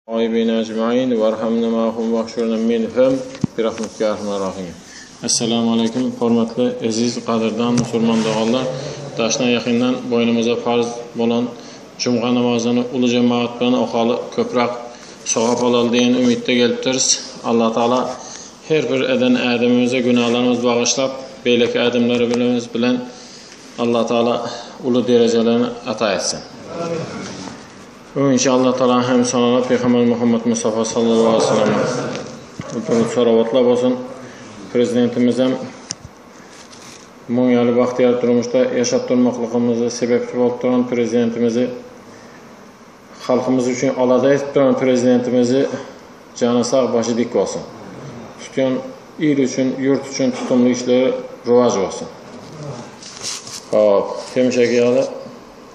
Taýibine ejmain warhamna mahum wahşurna minhum birahmetika ýa arhamar rahim. Essalamu aleýkum hormatly eziz gadyrdan musulman doganlar daşdan ýakyndan boýnumyza farz bolan jumga namazyny uly jemagat bilen okaly köprak sogap alaly diýen umytda gelipdiris Allah taala her bir eden ädimimize günalarymyz bagyşlap beýleki ädimlerimiz bilen Allah taala uly derejelerni ata etsin. Öňinçä Allah Taala hem Saňa Pygamber Muhammet Mustafa Sallallahu Aleýhi Wasallam üçin salawatlar bolsun. Prezidentimizem muň ýaly bagtyýar durmuşda ýaşap durmaklygymyza sebepçi bolup duran prezidentimizi halkymyz üçin alada edip duran prezidentimizi jany sag başy dik bolsun. Tutýan il üçin ýurt üçin tutumly işleri rowaç bolsun. Hop, hemişeki ýaly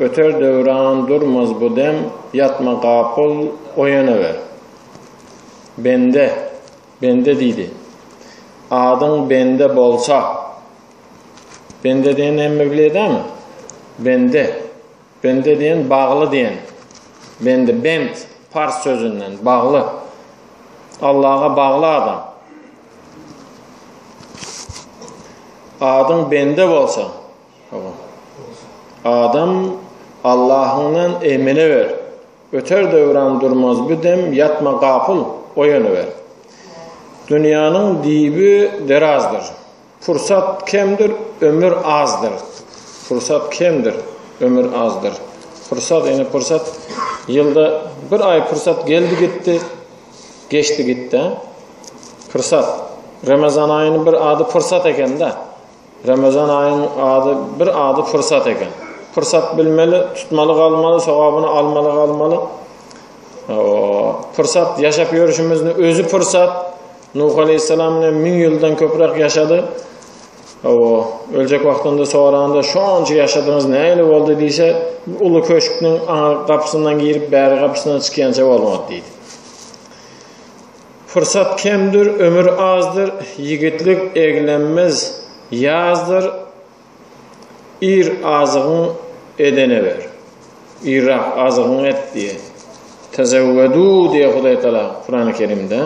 Göter Döwran durmaz bu dem ýatma gapyl oýanawer. Bende, bende diýdi. Adyň bende bolsa. Bende diýen näme bilýädäňmi? Bende. Bende diýen bagly diýen. Bende bent pars sözünden bagly. Allaha bagly adam. Adyň bende bolsa. Adam Allahyňdan eýmeneber, Öter döwran durmaz bu dem Ýatma gapyl, oýanyber. Dünýäniň düýbi derazdyr, Pursat kemdir, ömür azdyr, Pursat kemdir, ömür azdyr. Pursat, ýene pursat, ýylda bir aý pursat geldi gitdi, geçdi gitdi. Pursat, Remezan aýynyň bir ady pursat eken-de. Ramazan aýyň ady bir ady pursat eken. Pursat bilmeli, tutmaly galmaly, sogabyny almaly galmaly. Pursat ýaşap ýörşümizni özi pursat. Nuh aleyhisselam ile min ýyldan köprak ýaşady. Awa, öljek wagtynda soranda şonça ýaşadyňyz näle boldy diýse, uly köşküň aňa gapysyndan girip, bäri gapysyndan çykýança bolmady diýdi. Pursat kemdir, ömür azdyr, Ýigitlik eglenmez, ýazdyr, Ir azygyň edene ber, Irrak azygyň et diýe. Tezewwedu diýe Hudaý Tala Kurany Kerimde.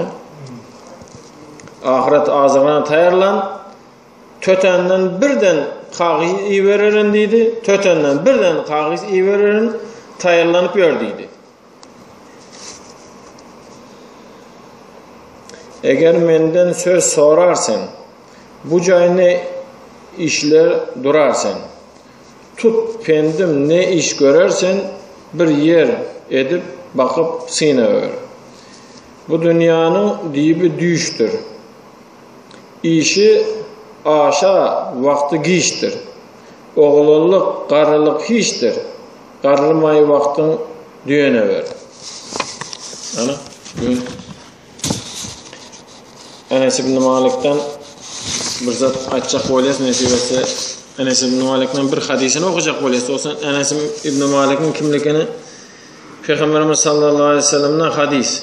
Ahyret azygyna taýýarlan, tötänden birden kagyz ibererin diýdi, tötänden birden kagyz ibererin, taýýarlanyp ýör diýdi. Eger menden söz sorar sen, Bu jaý ne işler durar sen. Tut pendim ne iş görer sen, Bir ýer edip bakyp syna gör. Bu dünýäniň dibi düýşdir. Işi aşa wagty giçdir. Oglanlyk, garrylyk hiçdir, Garrymaý wagtyň düýenewer. Ana, düýn Enes ibn Malikden bir zat aýtjak bolýas, nesip etse, Enes ibn Malikden bir hadysyny okajak bolýas. Dostlar, Enes ibn Malikiň kimligini Peygamberimiz sallallahu aleyhi ve sellem'den hadis.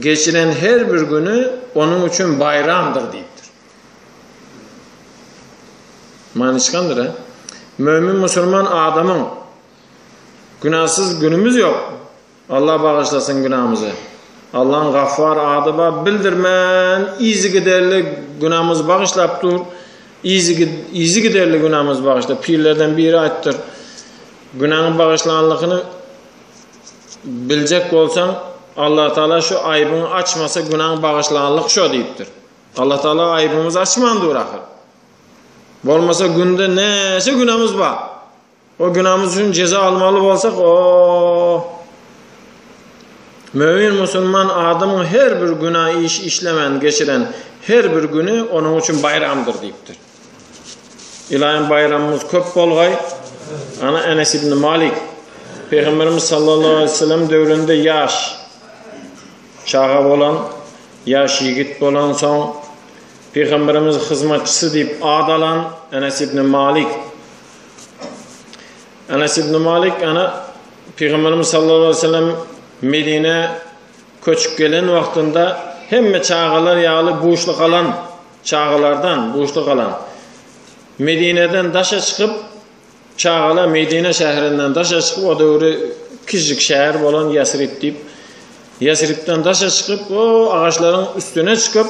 Geçiren her bir güni onuň üçin baýramdyr diýipdir. Manyçgandyr, hä? Mömin musulman adamyň günäsiz günümiz ýok. Allah bagyşlasyn günämizi. Allaň Gaffar ady bar, bildirmän yzygiderli günämizi bagyşlap dur. Yzygiderli günämizi bagyşlap, pirlerden biri aýtdyr. Günäňi bagyşlanlygyny biljek bolsaň, Allah Taala şu aýbyňy açmasa günaň bagyşlanlyk şo diýipdir. Allah Taala aýbymyzy açman dur ahyr. Bolmasa günde näçe günämiz bar. O günämiz üçin jeza almaly bolsak, o Mömin musulman adamyň her bir günä iş işlemän geçiren her bir güni onuň üçin baýramdyr diýipdir. Ylaýym baýramyňyz köp bolgaý. Ana Enes ibn Malik Pygamberimiz sallallahu aleyhi ve sellem döwründe ýaş çaga bolan, ýaş ýigit bolan soň Pygamberimiz hyzmatçysy diýip ad alan Enes ibn Malik. Enes ibn Malik ana Pygamberimiz sallallahu aleyhi ve sellem Medine köçüp gelen wagtynda hemme çagalar ýaly buşly galan Çagalardan buşda galan. Medineden daşa çykyp, çagalar Medine şäherinden daşa çykyp, o döwri kiçijik şäher bolan Ýasrib diýip, Ýasribden daşa çykyp, o agaçlaryň üstüne çykyp,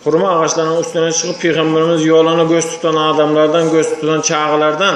hurma agaçlarynyň üstüne çykyp, pygamberimiz ýoluna göz tutan adamlardan, göz tutan çagalardan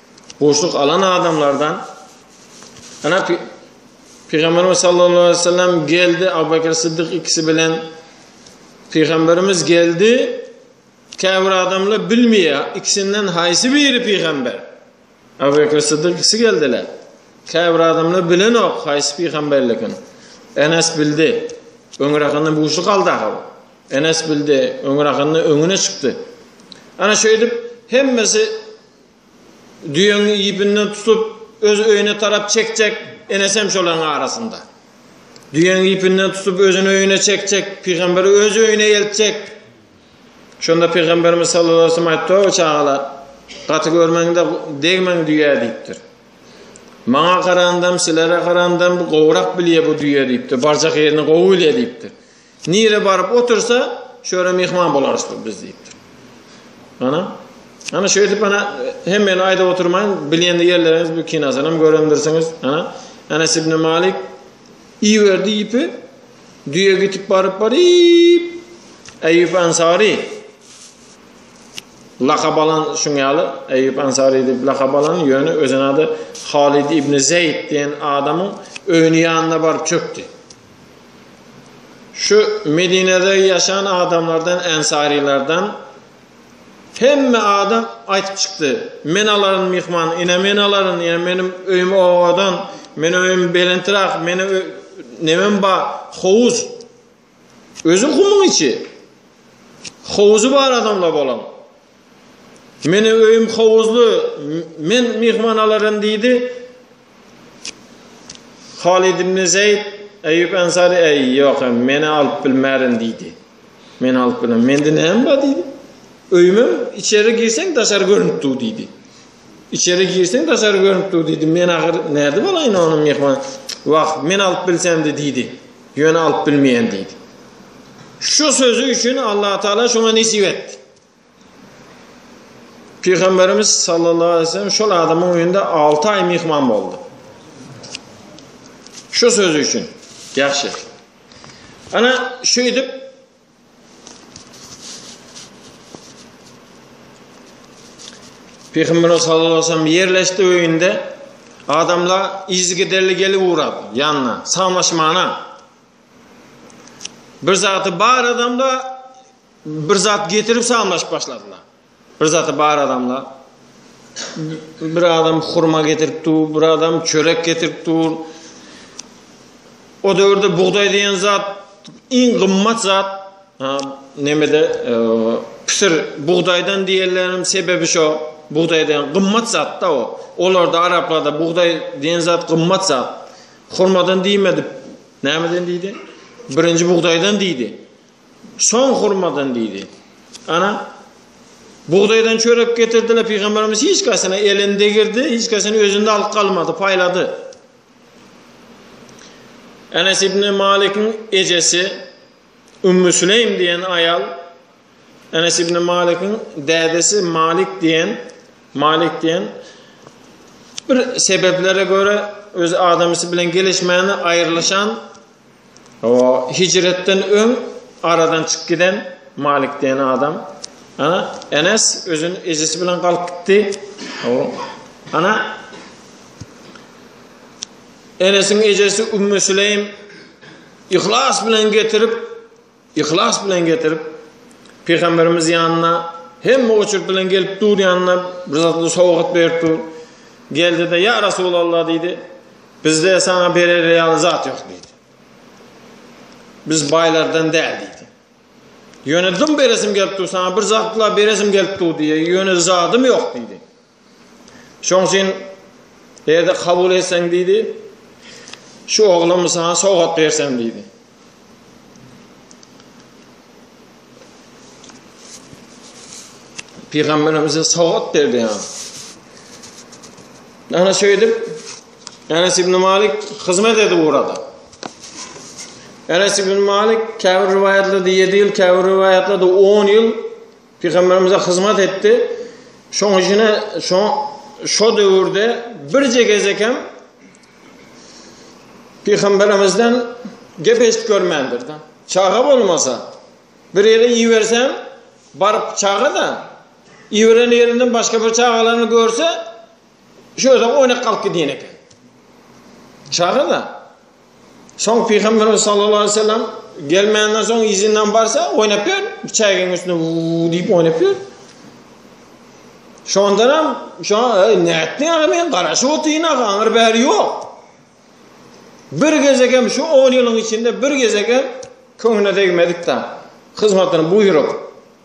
Buşluk alan adamlardan ana Peygamberimiz sallallahu aleyhi ve sellem geldi Abu Bekir Sıddık ikisi bilen Peygamberimiz geldi Käbir adamla bilmeýä, ikisinden haýsy biri pygamber? Abu Bekr Siddiq ikisi geldiler. Käbir adamla bilenok haýsy pygamberligini. Enes bildi. Öňräkinde bu şu galda. Enes bildi, öňräkinde öňüne çykdy. Ana şeýdip hemmesi Düýeň iýpinden tutup, öz öýüne tarap çekjek, enesem şolaryň arasynda. Düýeň iýpinden tutup, özüni öýüne çekjek, pygamberi öz öýüne eltjek. Şonda pygamberimiz sallallahu aleyhi ve sellem aýtdy, O çagalar, gaty görmeň-de, degmeň düýä diýipdir. Maňa garandam, sizlere garandam gowrak bilýär bu düýe diýipdir. Barjak ýerini gowy bilýär diýipdir. Nire baryp otursa, şu ýere myhman bolarys biz diýipdir. Ana, ana şeýdip ana hemmeni aýdyp oturmaýyn, bilýän ýerleriňiz bu kinasyny hem görendirsiňiz. Ana, Enes ibn Malik iberdi ipi, düýe gitip baryp baryp, Eýýup Ansary lakap alan şuň ýaly Eýýup Ansary diýip lakap alan ýöne özüne ady Halid ibn Zeýd diýen adamyň öýüniň ýanyna baryp çökdi. Şu Medinede ýaşan adamlardan, ensarylardan hemme adam aýtyp çykdy. Men alaryn myhman, ine men alaryn, ine meniň öýüm owadan, meniň öýüm belentrak, meniň nemem ba, howuz. Özi gumuň içi. Howuzy bar adamla bolan. Meniň öýüm howuzly, men myhman alaryn diýdi. Halid ibn Zeýd, Eýýup Ensary, Äý, ýok, meni alyp bilmärin diýdi. Meni alyp bilmem. Mende näme bar diýdi. Öýümem içeri girseň daşary görnüp dur diýdi. İçeri girseň daşary görnüp dur diýdi. Men agyr näde bolaýyn ony myhman. Wah, men alyp bilsemdi diýdi. Ýöne alyp bilmeýän diýdi. Şu sözü üçin Allah Taala şoňa nesip etdi. Pygamberimiz sallallahu aleyhi ve sellem şol adamyň öýünde 6 aý myhman boldy. Şu sözi üçin. Ýagşy. Ana şeýdip Pygamberimiz sallallahu aleyhi ve sellem ýerleşdi öýünde adamlar izgiderli gelip ugrap ýanyna, samaşmana. Bir zatı bar adamda Bir zat getirip samlaşyp başladylar. Bir zat bar adamlar. Bir adam hurma getirip dur, bir adam çörek getirip dur. O döwürde bugdaý diýen zat iň gymmat zat. Ha, nemede e, pisir bugdaýdan diýenleriň sebäbi şo. Bugdaý diýen gymmat zatda o. Olarda araplarda bugdaý diýen zat gymmat zat. Hurmadan diýmedi. Nämeden diýdi? Birinji bugdaýdan diýdi. Soň hurmadan diýdi. Ana, bugdaýdan çörek getirdiler, pygamberimiz hiç kasyna elini degirdi, hiç kasyny özünde alyp galmady, paýlady. Enes ibn Malik'in ejesi Ümmü Süleym diýen aýal Enes ibn Malik'in dädesi Malik diýen Malik diýen bir sebeplere görä öz adamysy bilen gelişmäni aýrylyşan Hijretden öň aradan çykyp giden Malik diýen adam. Ana, Enes özün ejesi bilen galyp gitdi. Ana, Enesiň ejesi Ümmü Süleým ihlas bilen getirip Yhlas bilen getirip, Pygamberimiz ýanyna hemme oçurt bilen gelip dur ýanyna bir zatly sowgat berip dur. Geldi-de, Ýa Resulallah diýdi, bizde saňa berer ýaly zat ýok diýdi. Biz baýlardan däl diýdi. Ýöne dym beresim gelip dur, saňa bir zatla beresim gelip dur diýdi. Ýöne zadym ýok diýdi. Şoň üçin erde kabul etseň diýdi. Şu oglumy sana sowgat bersem diýdi. Pygamberimize sowgat berdi ýa. Ana şeýdip Enes ibn Malik hyzmat edip urada. Enes ibn Malik käbir riwayatlarda 7 ýyl, käbir riwayatlarda 10 ýyl Pygamberimize hyzmat etdi. Şoň üçine şo şo döwürde birje gezek hem Pygamberimizden gep eşit görmändir da. Çaga bolmasa, bir ýere ibersem, baryp çaga da iberen ýerinden başga bir çagalaryny görse, şöyle oýnak galyp gidýän eken. Çaga da Soň Pygamberimiz sallallahu aleyhi ve sellem gelmenden soň izinden barsa oynap ýör. Çäginiň üstüne vuu diýip oynap ýör. Şondan hem şu e, nätdi aga men garaşyp otyň aga aňyr bäri ýok. Bir gezek hem şu 10 ýylyň içinde bir gezek hem köňüne degmedik da. Hyzmatyny buýrup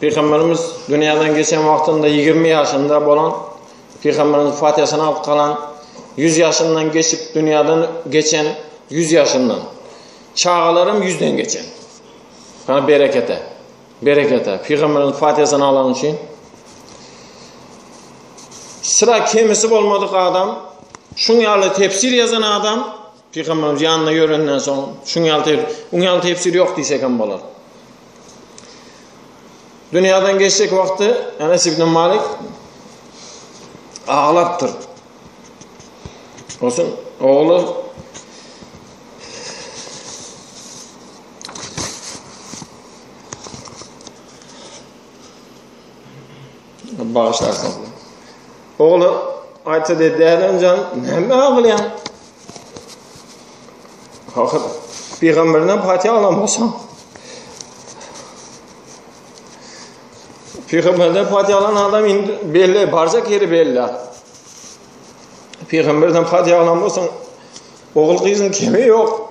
Pygamberimiz dünýäden geçen wagtynda ýigrimi ýaşynda bolan Pygamberimiz Fatihasyny alyp galan ýüz ýaşyndan geçip dünýäden geçen ýüz ýaşyndan çagalaram ýüzden geçen. Kana berekete. Berekete. Pygamberimiz Fatihasyny alan üçin sıra kemisi bolmadyk adam, şun ýaly tefsir ýazan adam Pygamberimiz ýanynda ýörenden soň şuň ýaly tefsir, uň ýaly tefsir ýok diýsek hem bolar. Dünýäden geçjek wagty Enes ibn Malik aglapdyr. Olsun, ogly Bagşyarsyňyz. Ogly aýtsa dedi, Dälenjan, näme aglaýaň? Hakyt, Pygamberine Fatiha aglamosa. Pygamberine Fatiha alan adam indi belli, barca keri belli. Pygamberine Fatiha aglamosa, ogul kızın kemi yok.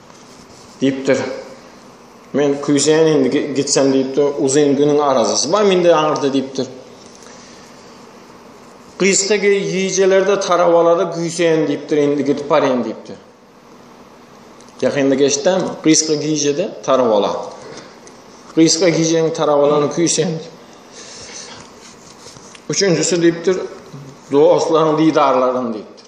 Diýipdir. Men küýseýän indi gitsem diýipdir. Uzyn günüň arazasy bar mende aňyrda diýipdir. Gysga gijelerde tarawalara güýseýän diýipdir, indi gidip barýan diýipdir. Ýakynda geçdem, gysga gijede tarawala. Gysga gijeniň tarawalany küýseýän. Üçünjisi diýipdir, dostlaryň diýdarlaryny diýipdir.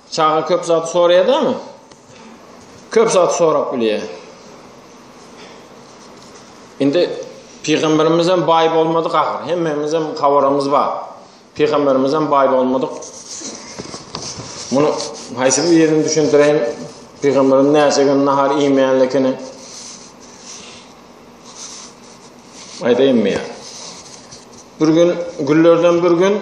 Çaga köp zady soraýadamy? Köp zady sorap bilýär. Indi Pygamberimiz hem baý bolmadyk ahyr. Hemmämiz hem habarymyz bar. Pygamberimiz hem baý bolmadyk. Muny haýsy bir ýerini düşündireýin? Pygamberin näçe gün nahar iýmeýänligini aýdaýynmy? Bir gün güllerden bir gün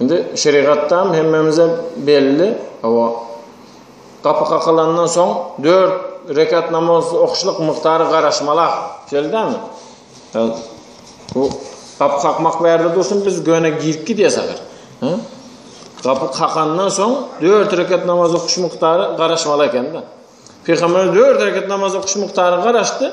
Indi şerigatdan hemmemize belli, hawa, gapy kakylandan soň dört rekat namaz okyşlyk mukdary garaşmalak, şeýle dälmi? Bu gapy kakmak bärde dursun, biz göne girip gidýäs ahyr. Gapy kakandan soň dört rekat namaz okyş mukdary garaşmaly eken-de. Pygamberimiz dört rekat namaz okyş mukdary garaşdy.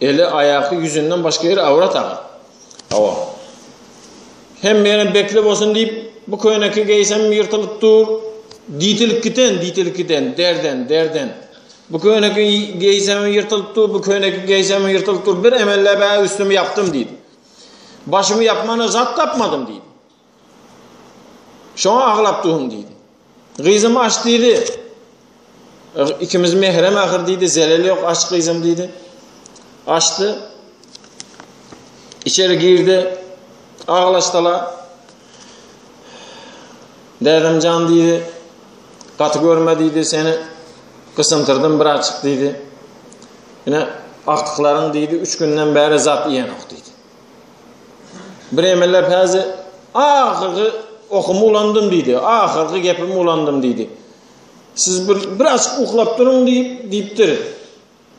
Eli, aýaky, ýüzünden başga ýeri awrat aga. Hawa. Hemmenem bekle bolsun diýip, bu köýneki geýsem ýyrtylyp dur. Diýtilip giten, diýtilip giten, derden, derden. Bu köýneki geýsem ýyrtylyp dur, bu köýneki geýsem ýyrtylyp dur. Bir emellep-ä üstümi ýapdym diýip. Başymy ýapmana zat tapmadym diýip. Şoňa aglap durun diýdi. Gyzym aç diýdi. Ikimiz mehrem ahyr diýdi. Zelel ýok aç gyzym diýdi. Açdy. İçeri girdi. Aglaşdylar. Dädem can diýdi. Gaty görme diýdi seni. Gysymtyrdım bir açyk diýdi. Ine akdyklaryň diýdi 3 günden bäri zat iýen ok diýdi. Biremeler häzi ahyrky okumy ulandym diýdi. Ahyrky gepimi ulandym diýdi. Siz bir biraz uklap duruň diýip diýipdir.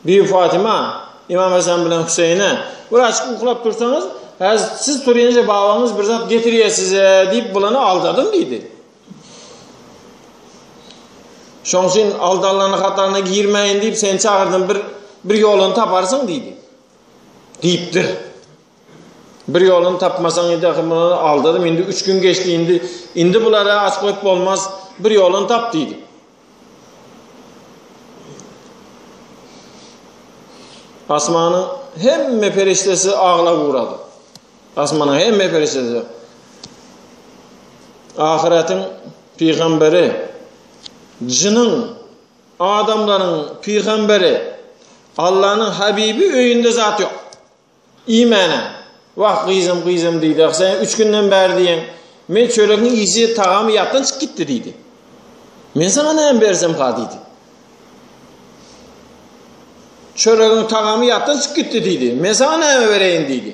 Bi Fatima İmam Hasan bilen Hüseyine biraz uklap dursaňyz, häzi siz turýança babaňyz bir zat getirýär size diýip bulany aldadym diýdi. Şoň üçin aldalany hatana girmäýin diýip seni çagyrdym bir bir ýoluny taparsyň diýdi. Diýipdir. Bir ýoluny tapmasaň, indi ahir muny aldadym, indi üç gün geçdi, indi indi bulara aç goýup bolmaz, bir ýoluny tap diýdi. Asmanyň hemme perişdesi aglap ugrady. Asmanyň hemme perişdesi. Ahyratyň pygamberi jynyň Adamlaryň pygamberi, Allanyň habibi öýünde zat ýok. Iýmäne. Wah, gyzym, gyzym diýdi. Ah, sen üç günden bäri diýen, men çöregiň ýyjy tagamy ýatdan çykyp gitdi diýdi. Men sana näme bersem ha diýdi. Çöregiň tagamy ýatdan çykyp gitdi diýdi. Men sana näme bereýin diýdi.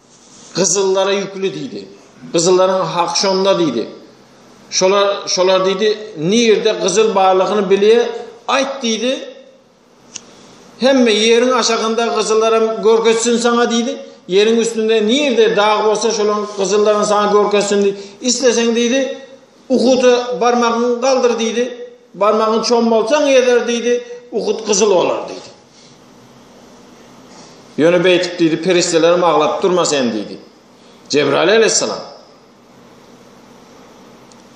Gyzyllara ýükli diýdi. Gyzyllaryň hak şonda diýdi. Şolar şolar diýdi, nirde gyzyl barlygyny bilýä, aýt diýdi. Hemme ýeriň aşagynda gyzyllaram görkezsin saňa diýdi. Ýeriň üstünde nirde dag bolsa şolaň gyzyllaryny saňa görkezsin diýdi. Isleseň diýdi, Uhuda barmagyňy galdyr diýdi. Barmagyňy çommalsaň ýeter diýdi. Uhud gyzyl bolar diýdi. Ýöne beýtip diýdi, perişdelerim aglap durma seni diýdi. Jebraýyl aleyhissalam.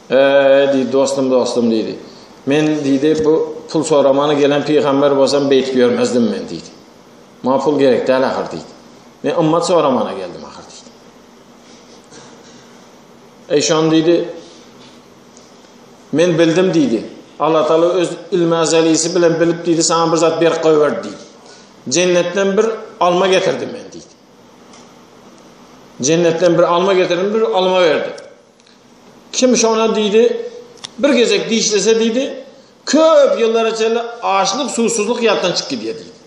Eee diýdi, dostum, dostum diýdi. Men diýdi, bu pul soramana gelen pygamber bolsam beýtip ýörmezdim men diýdi. Maňa pul gerek däl ahyr diýdi. Men ymmat soramana geldim ahyr diýdi. Eý şon diýdi, Men bildim diýdi. Allah Taala öz ilmi azalysi bilen bilip diýdi, sana bir zat berip goýberdi diýdi. Jennetden bir alma getirdim men diýdi. Jennetden bir alma getirdim, bir alma berdi. Kim şona diýdi, bir gezek dişlese diýdi, köp ýyllara çenli açlyk, suwsuzlyk ýatdan çykyp gidýär diýdi.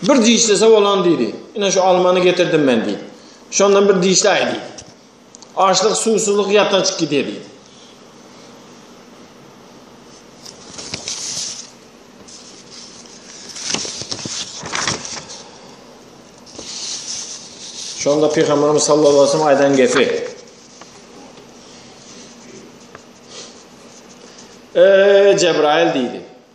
Bir dişlese bolan diýdi. Ine şu almany getirdim men diýdi. Şondan bir dişläý diýdi. Açlyk, suwsuzlyk ýatdan çykyp gidýärdi. Şonda Peygamberimiz sallallahu aleyhi ve sellem aydan gepi. Eee Cebrail deydi.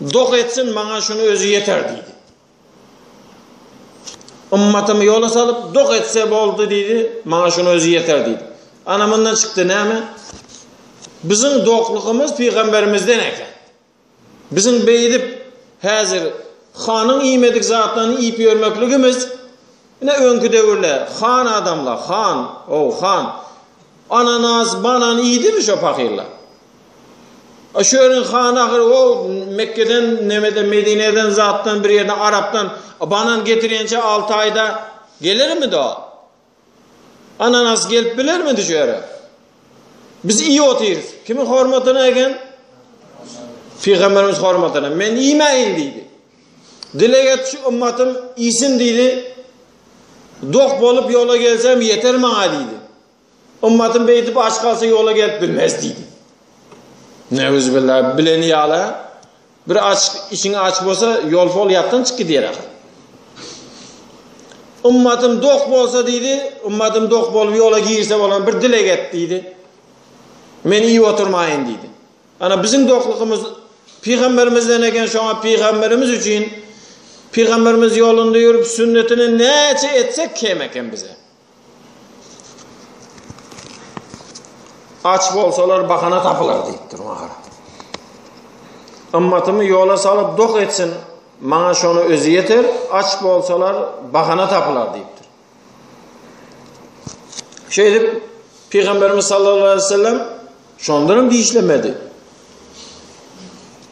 Doh etsin, maňa şuny özi ýeter diýdi. Ymmatymy ýola salyp, doh etse boldy diýdi, maňa şuny özi ýeter diýdi. Ana mundan çykdy näme? Biziň dohlygymyz pygamberimizden eken. Biziň beýdip häzir hanyň iýmedik zatlaryny iýip ýörmekligimiz ine öňki döwürler han adamlar, han, o han Ananas, banan iýdimi şo pahyllar? A şöniň hany ahyry o Mekgeden nemeden Medineden zatdan bir ýerden arapdan banan getirýençä alty aýda gelermidi o? Ananas gelip bilermidi şu ýere? Biz iýip otyrys. Kimiň hormatyna eken? Pygamberimiz hormatyna. Men iýmäýin diýdi. Dileg et şu ymmatym iýsin diýdi. Dok bolup ýola gelsem ýeter maňa diýdi. Ymmatym beýdip aç galsa ýola gelip bilmez diýdi. Neuzübillah bileni ýala bir aç içiň aç bolsa ýol pol ýatdan çyk gidýär ahir. Ymmatym dok bolsa diýdi, ymmatym dok bolup ýola girse bolan bir dileg et diýdi. Men iýip oturmaýyn diýdi. Ana, biziň doklugymyz pygamberimizden eken, şoňa pygamberimiz üçin, pygamberimiz ýolunda ýörüp, sünnetini näçe etsek kem eken bize. Aç bolsalar bahana tapylar diýipdir maňa. Ymmatymy ýola salyp dok etsin, maňa şony özi ýeter, aç bolsalar bahana tapylar diýipdir. Şeýdip, Pygamberimiz sallallahu aleyhi ve sellem şondan hem dişlemedi.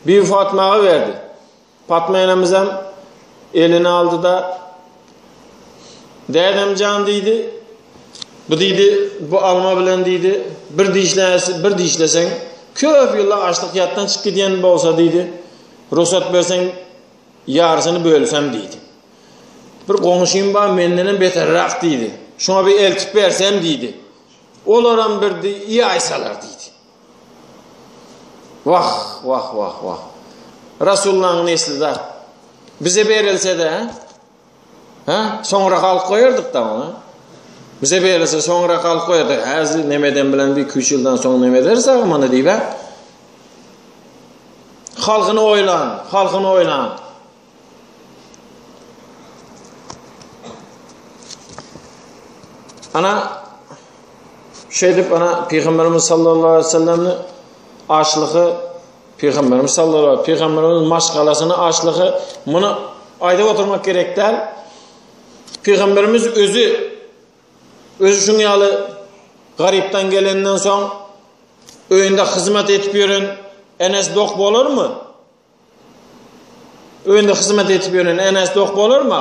Bir Fatmaga verdi. Fatma enemiz hem elini aldı da Dedem can dedi. Bu dedi, bu alma bilen dedi, bir dişlesi, bir dişlesen, köp yıllar açlık yattan çık giden bolsa dedi. Ruhsat versen Ýarysyny bölsem diýdi. Bir goňşym bar, mendenem beterräk diýdi. Şoňa bir eltip bersem diýdi. Olaram birdi, ýaýsalar diýdi. Wah, wah, wah, wah. Rasulullahyň nesli zat. Bize berilse-de, Ha? Soňra galyp goýardyk da ony. Bize beýlese soňra galyp goýardy. Häzir nemeden bilen bir küç ýyldan soň neme ederiz aga muny diýip. Halkyny oýlan, halkyny oýlan. Ana şeýdip ana Pygamberimiz sallallahu aleyhi ve sellemni açlygy Pygamberimiz sallallahu aleyhi Pygamberimiz maşgalasyny açlygy muny aýdyp oturmak gerek däl. Pygamberimiz özi özi şuň ýaly garypdan gelenden soň öýünde hyzmat edip ýören Enes dok bolarmy? Öýünde hyzmat edip ýören Enes dok bolarmy?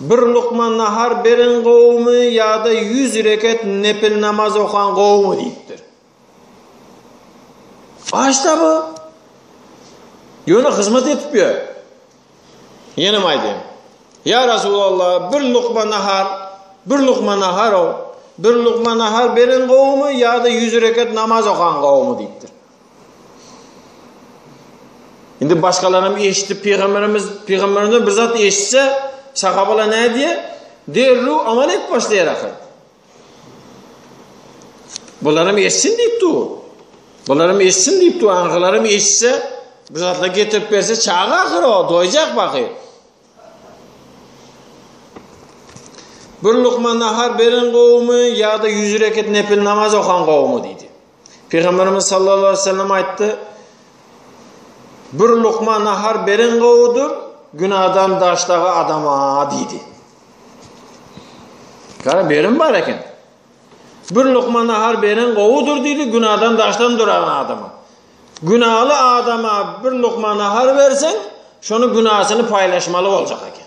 Bir lukma nahar beren gowumy ýa-da ýüz reket nepil namaz okan gowumy diýipdir. Başda bu ýöne hyzmat edip ýör. Ýenem aýdýan. Ýa Resulallah, bir lukma nahar, bir lukma nahar o, bir lukma nahar beren gowumy ýa-da ýüz reket namaz okan gowumy diýipdir. Indi başgalaram eşidip pygamberimiz pygamberimiz bir zat eşitse sahabala ne diye derru amal et başlaýar ahyr. Bularam eşsin diýip dur. Bularam eşsin diýip dur. Aňylaram eşitse bir zatla getirip berse çaga ahyr o doýjak baky. Bir lukman nahar beren gowumy ýa-da 100 reket nepil namaz okan gowumy diýdi. Pygamberimiz sallallahu aleyhi ve sellem aytdy, bir lukma nahar beren govudur, günadan daşdağı adama diydi. Kara berin bar eken. Bir lukma nahar beren govudur diydi, günadan daşdan duran adama. Günalı adama bir lukma nahar versen, şonu günasını paylaşmalı olacak eken.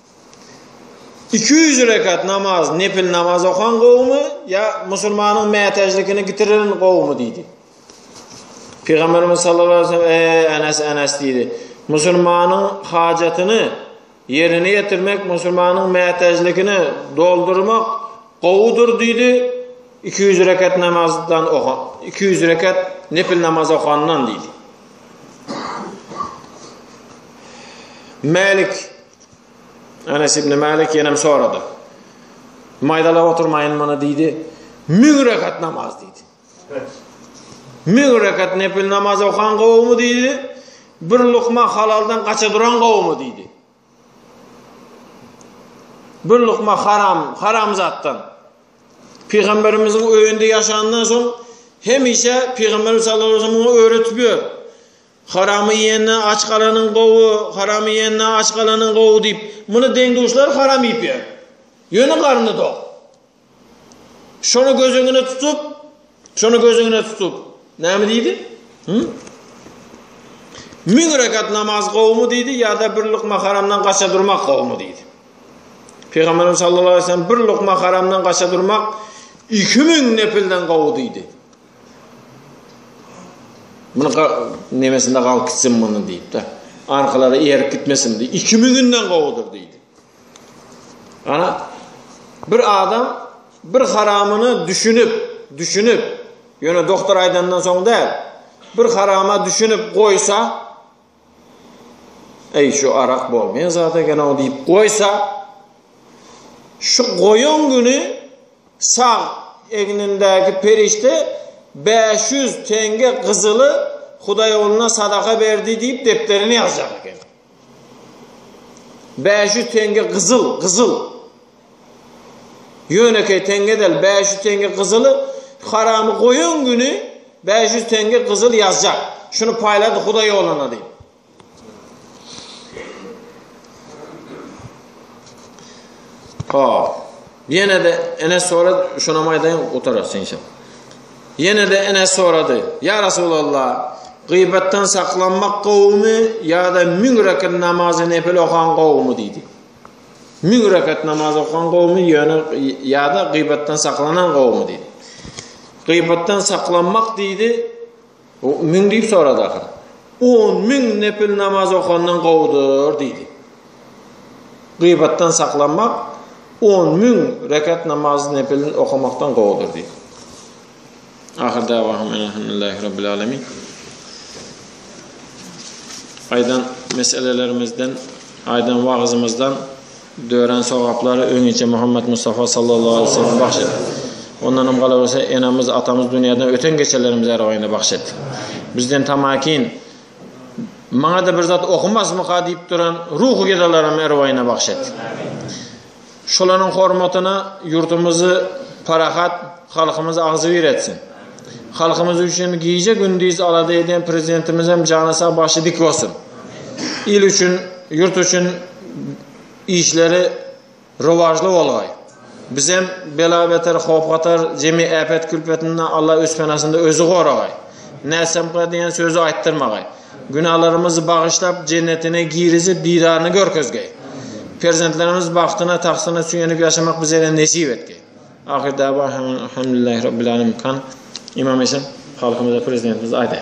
Iki ýüz rekat namaz, nepil namaz okan gowumy, ýa musulmanyň mätäçlikini gitirilen gowumy diýdi. Pygamberimiz sallallahu aleyhi ve sellem ey Enes Enes diýdi. Musulmanyň hajatyny ýerine ýetirmek, musulmanyň mätäçligini doldurmak gowudyr diýdi. Iki ýüz rekat namazdan iki ýüz rekat nepil namaz okandan diýdi. Malik Anas ibn Malik ýenem sorady. Maýdalap oturmaýyn muny diýdi. Müň rekat namaz diýdi. Müň rekat nepil namaz okan gowumy diýdi. Bir lukma halaldan gaça duran gowumy diýdi. Bir lukma haram, haramzatdan. Pygamberimiziň öýünde ýaşandan soň hemişe Pygamberimiz sallallahu aleyhi ve sellem oňa öwretip ýör. Haramy iýenden aç galanyň gowy, haramy iýenden aç galanyň gowy diýip, muny deň-duşlary haram iýip ýör. Ýöne garny dok. Şony göz öňüne tutup, şony göz öňüne tutup, näme diýdi? Hü? Müň rekat namaz gowumy diýdi, ýa-da bir lukma haramdan gaça durmak gowumy diýdi. Pygamberimiz sallallahu aleyhi ve sellem bir lukma haramdan gaça durmak 2000 nepilden gowy diýdi. Bunu nemesinde galyp gitsin bunu diýip de. Arkalara eýerip gitmesin diýip. 2000-den gowudyr diýdi. Ana, bir adam bir haramyna düşünip, düşünip, ýöne doktor aýdandan soň däl, bir harama düşünip goýsa, Eý, şu arak bolmaýan zat eken-ow diýip goýsa, şu goýan güni sag egnindäki perişde bäş ýüz teňňe gyzyly Hudaýogluna sadaka berdi diýip depderine ýazjak eken. Bäş ýüz teňňe gyzyl, gyzyl. Ýönekeý teňňe däl, bäş ýüz teňňe gyzyly haramy goýan güni bäş ýüz teňňe gyzyl ýazjak. Şuny paýlady Hudaý ýoluna diýip. Hop. Ýene-de Enes sorady, şonam aýdaýyn, gutarasy inşallah. Ýene-de Enes sorady, Ýa Resulallah, gybatdan saklanmak gowumy ýa-da müň rekat namazy nepil okan gowumy diýdi. Müň rekat namaz okan gowumy ýöne ýa-da gybatdan saklanan gowumy diýdi. Gybatdan saklanmak diýdi, O, Müň diýip sorady ahyry. On müň nepil namaz okandan gowudyr diýdi. Gyýbatdan saklanmak on müň rekat namaz nepilini okamakdan gowudyr diýdi. Ahyr dawahum elhamdülillahi rabbil alamin. Aýdan meselelerimizden, aýdan wagzymyzdan Dörän sogaplary öňinçä Muhammet Mustafa sallallahu aleýhi we sellem bagş et. Ondanam galawerse enemiz, atamyz dünýäden öten geçelerimiz ärwaýyna bagş et. Bizden tamakin maňa-da bir zat okumazmyka diýip duran ruhy gedalaram ärwaýyna bagş et. Şolaryň hormatyna ýurdumyzy parahat, halkymyzy agzybir etsin. Halkymyz üçin gije gündiz alada eden prezidentimizem jany sag başy dik bolsun. Il üçin, ýurt üçin işleri rowažly bolgaý. Bizem bela-beter, howp-hatar, jemi äpet-külpetinden Alla öz penasynda özi goragaý. Nässemka diýen sözi aýtdyrmagaý. Günalarymyzy bagyşlap, jennetine girizip, didaryny görkezgeý. Perzentlerimiz bagtyna, tagtyna süýenip ýaşamak bizere nesip etgeý. Ahyr da'wa hamdulillahi rabbil alamin. Kan, Imam Esen, halkymyza, Prezidentimize aýdaý.